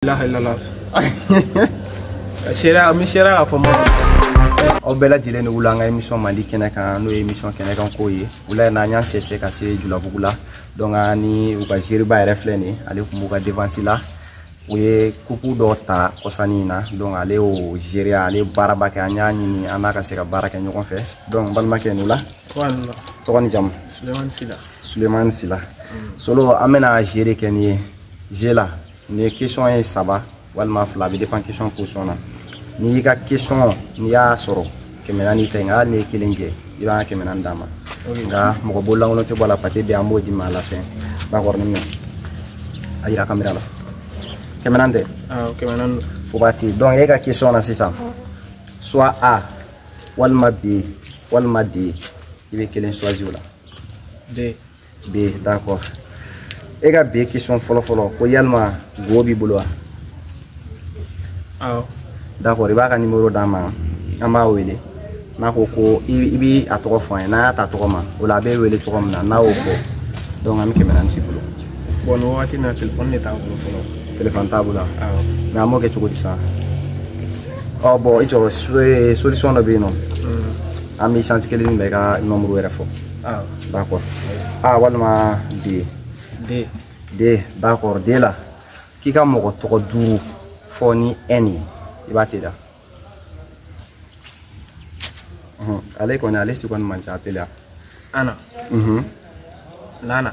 ilaha illallah sera mi sera k'a fɔ ma aw bɛɛ lajɛlen ni wula an ka émission mandi kɛnɛ kan n'o ye émission kɛnɛ kan koyi wula yɛrɛ n'an y'an sɛsɛ ka se julabugu la donc an ni u ka geriba yɛrɛ filɛ nin ale tun b'u ka défense la u ye kupu dɔ ta kɔsanni in na donc ale y'o gérer ale baaraba kɛ an y'a ɲini an n'a ka se ka baara kɛ ɲɔgɔn fɛ donc balimakɛ ni wula tɔgɔ ni jamu sulemani sila sulemani sila solo an bɛna jeu yɛrɛ kɛ nin ye jeu la nin ye question ye saba walima fila bɛ dépend question position na n'i y'i ka question n'i y'a sɔrɔ kɛmɛ naani tɛ nka hali n'i ye kelen jɛ i b'an ka kɛmɛ naani d'an ma nka mɔgɔ bololankolon tɛ bɔ a la pate bɛ an b'o d'i ma a la fɛn bakɔrɔni minɛ a yira kamera la kɛmɛ naani tɛ kɛmɛ naani don fo b'a ti donc e ka question na sisan soit a walima b walima d i bɛ kelen choisi o la d b d'accord e ka b question fɔlɔ fɔlɔ ko yali mɔgɔ b'i bolo wa awɔ d'accord i b'a ka numéro d'an ma an b'a wele n'a ko ko i b'a tɔgɔ fɔ an ye n'a y'a ta tɔgɔ ma o la a bɛ wele cogo min na n'a y'o fɔ donc an bɛ kɛmɛ naani t'i bolo bon nin wagati na telefɔni de t'a bolo fɔlɔ telefɔni t'a bolo awɔ mais an b'o kɛ cogo di sisan ɔ bon i jɔ solution dɔ bɛ yen non an bɛ chance kelen min bɛ i ka numéro yɛrɛ fɔ awɔ d'accord a ah, walima d d d d'accord d la k'i ka mɔgɔ tɔgɔ duuru fɔ ni n ye i b'a tɛ da ale kɔni ale si kɔni man ca a teliya ana nana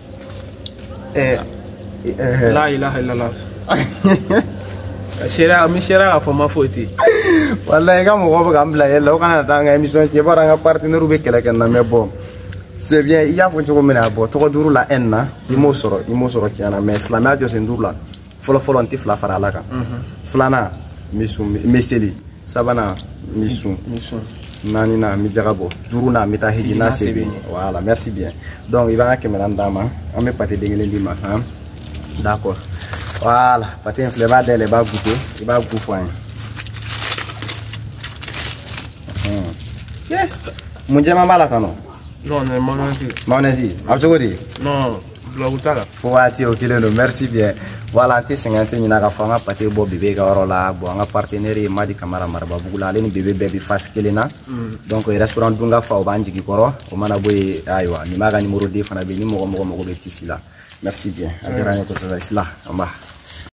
Eh, eh, la ilaha illallah sera mi sera k'a fɔ ma foyi tɛ voilà i ka mɔgɔ bɛ k'an bila yɛlɛ o kana taa an ka émission cɛn i b'a dɔn an ka partenaire bɛ kɛlɛ k'an na mais bon c'est bien i y'a fɔ cogo min na bon tɔgɔ duuru la n na i m'o sɔrɔ i m'o sɔrɔ tiɲɛ na mais silamɛya jɔsen duuru la fɔlɔfɔlɔ n tɛ fila fara ala kan filanan n bɛ sun n bɛ seli sabanan n bɛ sun naaninan n bɛ jaga bɔ duurunan n bɛ taa hiji n'a se bɛ n ye voilà merci bien donc i b'an ka kɛmɛ naani d'an ma an bɛ pate den kelen d'i ma han d'accord voilà pate in filɛ i b'a dayɛlɛ i b'a goûter i b'a goût fɔ an ye mun jɛman b'a la tan non mayonnaise a bɛ cogo di Blagu t'a la. Fo waati o kelen don merci bien voilà an tɛ sɛgɛn an tɛ ɲinɛ k'a fɔ an ka pate bɔ bebe ka yɔrɔ la bon an ka partenaire ye Madi Kamara Marababugu la ale ni bebe bɛɛ bɛ face kelen na donc restaurant Dunga fa o b'an jigi kɔrɔ o mana bɔ yen ayiwa Nimaga numéro 2 fana bɛ yen ni mɔgɔ mɔgɔ mago bɛ tissu la merci bien a diyara an ye kosɛbɛ sila anba.